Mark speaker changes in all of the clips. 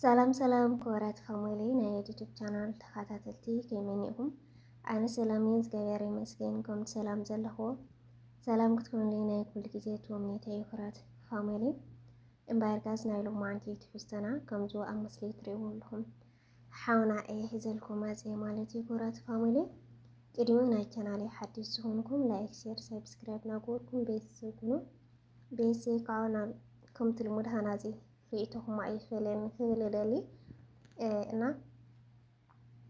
Speaker 1: ሰላም ሰላም ክቡራት ፋሚሊ ናይ ዩቲዩብ ቻናል ተኸታተልቲ ከመይ ኢኹም? ኣነ ሰላም እየ እግዚኣብሔር ይመስገን። ከምቲ ሰላም ዘለኹዎ ሰላም ክትኮኑለይ ናይ ኩሉ ግዜ ትምኒተይ እዩ። ክቡራት ፋሚሊ እምበኣር ጋዝ ናይ ሎማዓንቲ ትሕዝቶና ከምዚ ኣብ ምስሊ ትሪእዎ ኣለኹም ሓውና እየ ሒዘልኩም መፀ ማለት እዩ። ክቡራት ፋሚሊ ቅድሚ ናይ ቻናል ሓድሽ ዝኾንኩም ላይክ፣ ሼር፣ ሰብስክራይብ ናገበርኩም ቤተሰብ ኩኑ። ቤተሰብ ከዓ ከምቲ ልሙድ ሃናፂ ሪኢቶኹም ኣይፈለየኒ ክብል እደሊ እና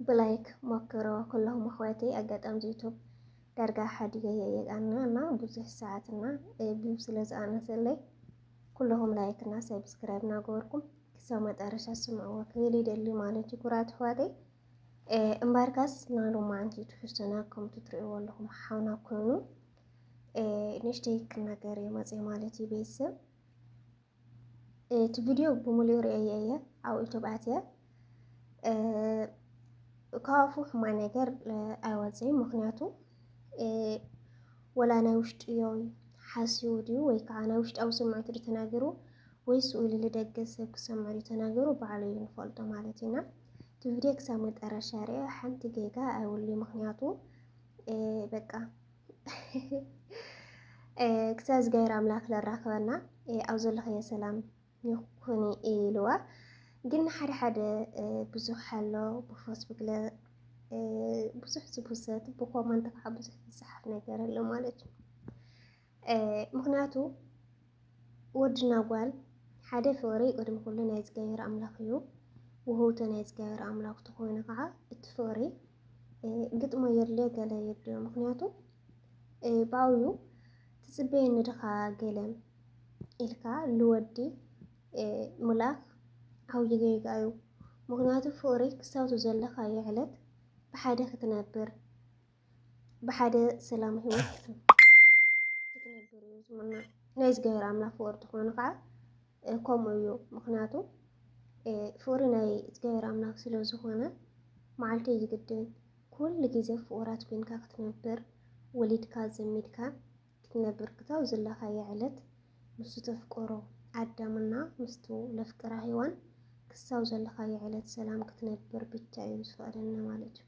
Speaker 1: ብላይክ ሞክሮ ኩሎም ኣሕዋተይ ኣጋጣሚ ዩቱብ ዳርጋ ሓዲገ የየቃና እና ብዙሕ ሰዓት እና ቢብ ስለ ዝኣነሰለይ ኩለኹም ላይክ እና ሰብስክራይብ እናገበርኩም ክሳብ መጠረሻ ስምዕዎ ክብል ይደሊ ማለት እዩ ኩራት ኣሕዋተይ እምበርካስ ናሉ ማዓንቲ ትሕዝቶና ከምቲ ትርእይዎ ኣለኹም ሓውና ኮይኑ ንእሽተይ ክናገር እዩ መፅእ ማለት እዩ ቤተሰብ እቲ ቪድዮ ብምሉኡ ርእየ እየ ኣብ ዩቱብ ኣትየ ካብኣፉ ሕማ ነገር ኣይወፅእን ምክንያቱ ወላ ናይ ውሽጢ እዮም ሓስዩ ድዩ ወይ ከዓ ናይ ውሽጣዊ ስምዒቱ ድ ተናገሩ ወይ ስኡሉ ልደገ ሰብ ክሰምዑ ዩ ተናገሩ ባዕሉ እዩ ንፈልጦ ማለት እዩና እቲ ቪድዮ ክሳብ መጠረሻ ርአ ሓንቲ ጌጋ ኣይውሉ ምክንያቱ በቃ ክሳብ እግዚኣብሔር ኣምላክ ለራክበና ኣብ ዘለኸዮ ሰላም ይኹን ኢልዋ ግን ሓደ ሓደ ብዙሕ ኣሎ ብፌስቡክ ብዙሕ ዝብሰት ብኮመንት ከዓ ብዙሕ ዝፅሓፍ ነገር ኣሎ ማለት እዩ ምክንያቱ ወድና ጓል ሓደ ፍቕሪ ቅድሚ ኩሉ ናይ እግዚኣብሔር ኣምላኽ እዩ። ውህውቶ ናይ እግዚኣብሔር ኣምላኽ ተኾይኑ ከዓ እቲ ፍቕሪ ግጥሞ የድልዮ ገለ የድልዮ ምክንያቱ ብኣውዩ ትጽበየኒ ድኻ ገለ ኢልካ ልወዲ ምልኣኽ ዓብዪ ጌጋ እዩ። ምክንያቱ ፍቕሪ ክሳብቱ ዘለኻዮ ዕለት ብሓደ ክትነብር ብሓደ ሰላም ህይወት ክትነብር እዩ ዝምነ ናይ እግዚኣብሔር ኣምላክ ፍቅሪ ትኾኑ ከዓ ከምኡ እዩ ምክንያቱ ፍቅሪ ናይ እግዚኣብሔር ኣምላክ ስለዝኾነ መዓልቲ እዩ ዝግድን ኩሉ ግዜ ፍቁራት ኮይንካ ክትነብር ወሊድካ ዘሚድካ ክትነብር ክታብ ዘለካየ ዕለት ምስ ተፍቅሮ ኣዳምና ምስቱ ለፍቅራ ሔዋን ክሳብ ዘለካየ ዕለት ሰላም ክትነብር ብቻ እዩ ዝፈቅደልና ማለት እዩ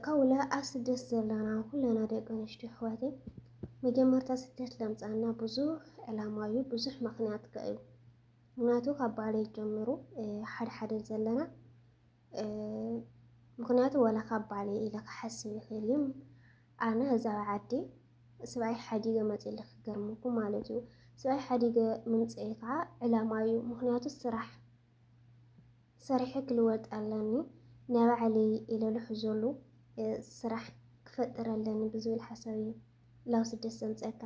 Speaker 1: ከውለ ኣብ ስደት ዘለና ኩለና ደቂ ኣንስትዮ ኣሕዋተይ መጀመርታ ስደት ለምፃና ብዙሕ ዕላማ እዩ፣ ብዙሕ ምክንያት ከ እዩ ምክንያቱ ካብ ባሌ ጀምሩ ሓደ ሓደ ዘለና ምክንያቱ ወላ ካብ ባሌ ኢለ ክሓስብ ይኽእል እዩ። ኣነ እዛ ዓዲ ስብኣይ ሓዲገ መፂለ ክገርመኩም ማለት እዩ። ስብኣይ ሓዲገ ምምፀኤ ከዓ ዕላማ እዩ፣ ምክንያቱ ስራሕ ሰሪሐ ክልወጥ ኣለኒ ናባዕለይ ኢለ ዝሕዘሉ ስራሕ ክፈጥር ኣለኒ ብዝብል ሓሳብ እዩ ላው ስደት ዘምፀካ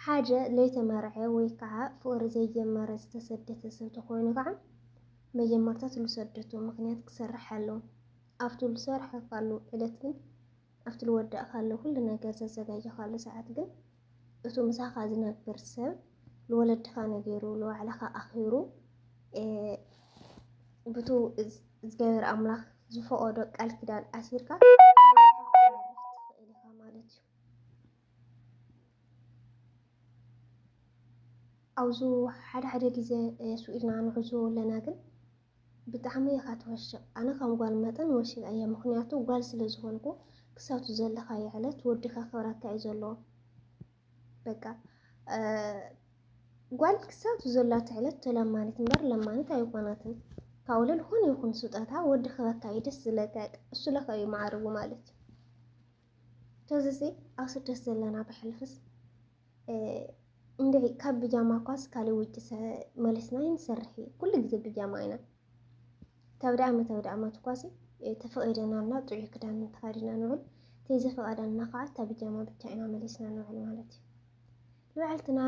Speaker 1: ሓደ ለይተመርዐ ወይ ከዓ ፍቅሪ ዘይጀመረ ዝተሰደተ ሰብ ተኮይኑ ከዓ መጀመርታ ትልሰደቱ ምክንያት ክሰርሕ ኣለዎ ኣብቲ ዝሰርሐካሉ ዕለት ግን ኣብቲ ዝወዳእካሉ ኩሉ ነገር ዘዘጋጀካሉ ሰዓት ግን እቱ ምሳኻ ዝነብር ሰብ ልወለድኻ ነጊሩ ልባዕልኻ ኣኺሩ ብቱ እግዚኣብሔር ኣምላኽ ዝፈቐዶ ቃል ኪዳን ኣሲርካ ኣብዚ ሓደ ሓደ ግዜ ስኢልና ንዕዘቦ ኣለና ግን ብጣዕሚ ኢኻ ትወሽቅ ኣነ ከም ጓል መጠን ወሲበያ ምኽንያቱ ጓል ስለ ዝኾንኩ ክሳቱ ዘለኻዮ ዕለት ወዲ ከኽብረካ እዩ ዘለዎ በቃ ጓል ክሳቱ ዘላቶ ዕለት ተለማኒት እምበር ለማኒት ኣይኾናትን ካውለ ዝኾነ ይኹን ስጦታ ወዲ ክበካ እዩ ደስ ዝለካ እሱ ለካ እዩ ማዕርጉ ማለት እዩ ተዝዚ ኣብ ስደት ዘለና ብሕልፍስ እንድዒ ካብ ብጃማ ኳስ ካልእ ውጭ መለስና ይንሰርሕ እዩ ኩሉ ግዜ ብጃማ ኢና ተብዳ ዓመት ተብዳ ዓመት ኳሲ ተፈቒደና እና ጥዑይ ክዳን ተኸዲና ንውዕል ተይዘፈቐደና ከዓ እታ ብጃማ ብቻ ኢና መለስና ንውዕል ማለት እዩ ንውዕልትና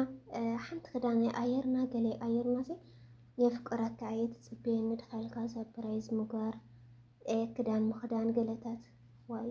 Speaker 1: ሓንቲ ክዳን ኣየርና ገለ ኣየርና ሲ የፍቅረካ እየ ትፅበየኒ ድኻልካ ሰፕራይዝ ምግባር ክዳን ምኽዳን ገለታት ዋይ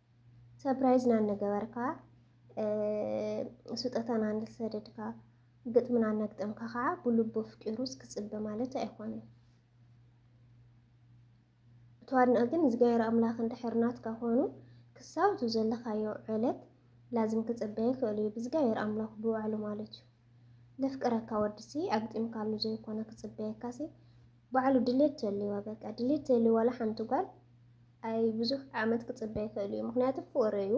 Speaker 1: ሰፕራይዝ ናነገበርካ ስጦታ ናነሰደድካ ግጥሚ ናነግጠምካ ከዓ ብልቡ ኣፍቂሩስ ክፅበ ማለት ኣይኮነን። ተዋድንኦ ግን እግዚኣብሔር ኣምላኽ እንድሕር ናትካ ኮይኑ ክሳብ እቲ ዘለኻዮ ዕለት ላዝም ክፅበየ ይኽእል እዩ ብእግዚኣብሔር ኣምላኽ ብባዕሉ ማለት እዩ። ለፍቅረካ ወድሲ ኣግጢምካሉ ዘይኮነ ክፅበየካሲ ባዕሉ ድሌት ተልዋ በቃ ድሌት ተልዋ ለሓንቲ ጓል ኣይ ብዙሕ ዓመት ክፅበ ይኽእል እዩ ምክንያቱ ፍቅሪ እዩ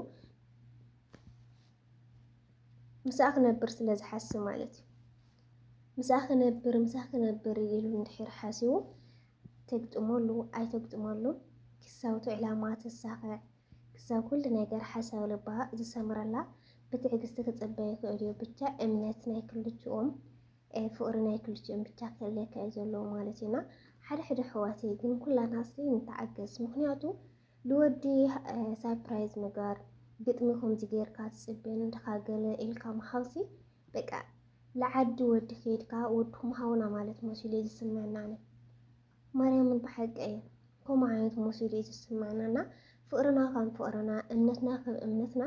Speaker 1: ምስኣ ክነብር ስለ ዝሓስብ ማለት እዩ ምስኣ ክነብር ምስኣ ክነብር ኢሉ እንድሕር ሓሲቡ ተግጥመሉ ኣይተግጥመሉ ክሳውቱ ዕላማ ተሳኽዕ ክሳብ ኩሉ ነገር ሓሳብ ልባ ዝሰምረላ ብትዕግስቲ ክጽበ ይኽእል እዩ ብቻ እምነት ናይ ክልቲኦም ፍቕሪ ናይ ክልቲኦም ብቻ ክህልየካ እዩ ዘለዎ ማለት እዩ እና ሓደ ሓደ ኣሕዋተይ ግን ኩላትና እስኪ ንተዓገስ ምክንያቱ ልወዲ ሳፕራይዝ ምግባር ግጥሚ ከምዚ ጌርካ ትጽበ ንድኻ ገለ ኢልካ ምሃብሲ በቃ ልዓዲ ወዲ ከይድካ ወድኩም ሃውና ማለት መሲሉ እዩ ዝስመዐና ኣነ ማርያምን ብሓቂ እየ ከምኡ ዓይነት ሞሲሉ እዩ ዝስማዕና እና ፍቅርና ከም ፍቅርና እምነትና ከም እምነትና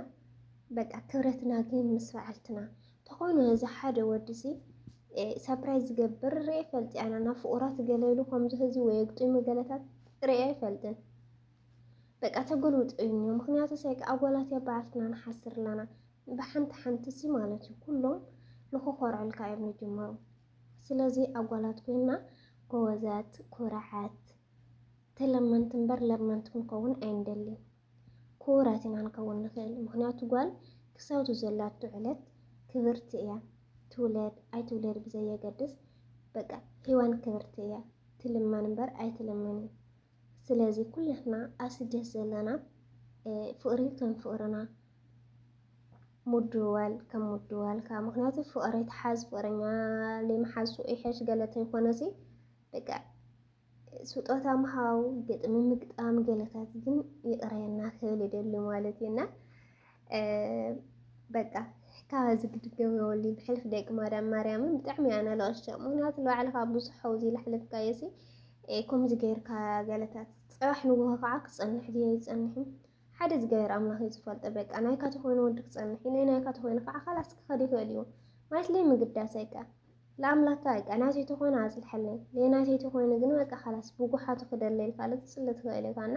Speaker 1: በቃ ክብረትና ግን ምስ በዓልትና ተኾይኑ እዚ ሓደ ወዲ ሲ ሰፕራይዝ ዝገብር ርኤ ፈልጢ ኣነ እና ፍቁራት ገለሉ ከምዚ ህዚ ወይ ግጥሚ ገለታት ርኤ ኣይፈልጥን በቃ ተገልውጥ እዩ ምክንያቱ ሳይክ ኣጓላት እያ በዓልትና ንሓስር ኣለና ብሓንቲ ሓንቲ ሲ ማለት እዩ ኩሎም ንክኮርዐልካ እዮም ዝጅመሩ ስለዚ ኣጓላት ኮይና ጎበዛት ኩራዓት ተለመንቲ እምበር ለመንቲ ክንከውን ኣይንደሊን ኩቡራት ኢና ንከውን ንክእል ምክንያቱ ጓል ክሳብቲ ዘላቶ ዕለት ክብርቲ እያ ትውለድ ኣይትውለድ ብዘየገድስ በቃ ሂዋን ክብርቲ እያ ትልመን እምበር ኣይትልመንን ስለዚ ኩላትና ኣብ ስደት ዘለና ፍቕሪ ከም ፍቕርና ምድዋል ከም ምድዋልካ ምክንያቱ ፍቕሪ ትሓዝ ፍቕረኛ ለይምሓዙ ይሐሽ ገለ ተይኮነሲ በቃ ስጦታ ምሃው ግጥሚ ምግጣም ገለታት ግን ይቕረየና ክብል ይደሊ ማለት እዩና በቃ ካብ እዚ ግድገም የወሊ ብሕልፍ ደቂ ማርያም ማርያምን ብጣዕሚ እያ ነለቕሽቶ ምክንያቱ ንባዕልኻ ብዙሕ ሓውዚ ዝሓለፍካዮ ሲ ከምዚ ገይርካ ገለታት ፅባሕ ንጎሆ ከዓ ክፀንሕ ድየ ይፀንሕን ሓደ እግዚኣብሔር ኣምላኽ እዩ ዝፈልጦ። በቃ ናይካ ተኾይኑ ወዲ ክፀንሕ እዩ፣ ናይ ናይካ ተኾይኑ ከዓ ካላስ ክኸድ ይኽእል እዩ ማለት ለይ ምግዳስ ኣይቃ ለኣምላካ ኣይቃ ናተይ ተኾይኑ ኣፅልሐለይ ለይ ናተይ ተኾይኑ ግን በቃ ካላስ ብጉሓቱ ክደለይልካ ለትፅለ ትኽእል ኢኻ እና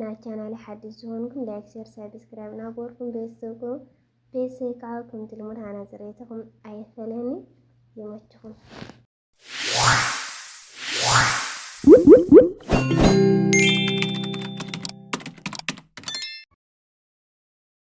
Speaker 1: ናብ ቻናለይ ሓድሽ ዝኾንኩም ላይክ ሸር ሳብስክራይብ ናበርኩም ቤተሰብ ኩኑ ቤተሰብ ከዓ ከምቲ ልሙድ ሃና ፅሬትኹም ኣይፈለኒ ይመችኹም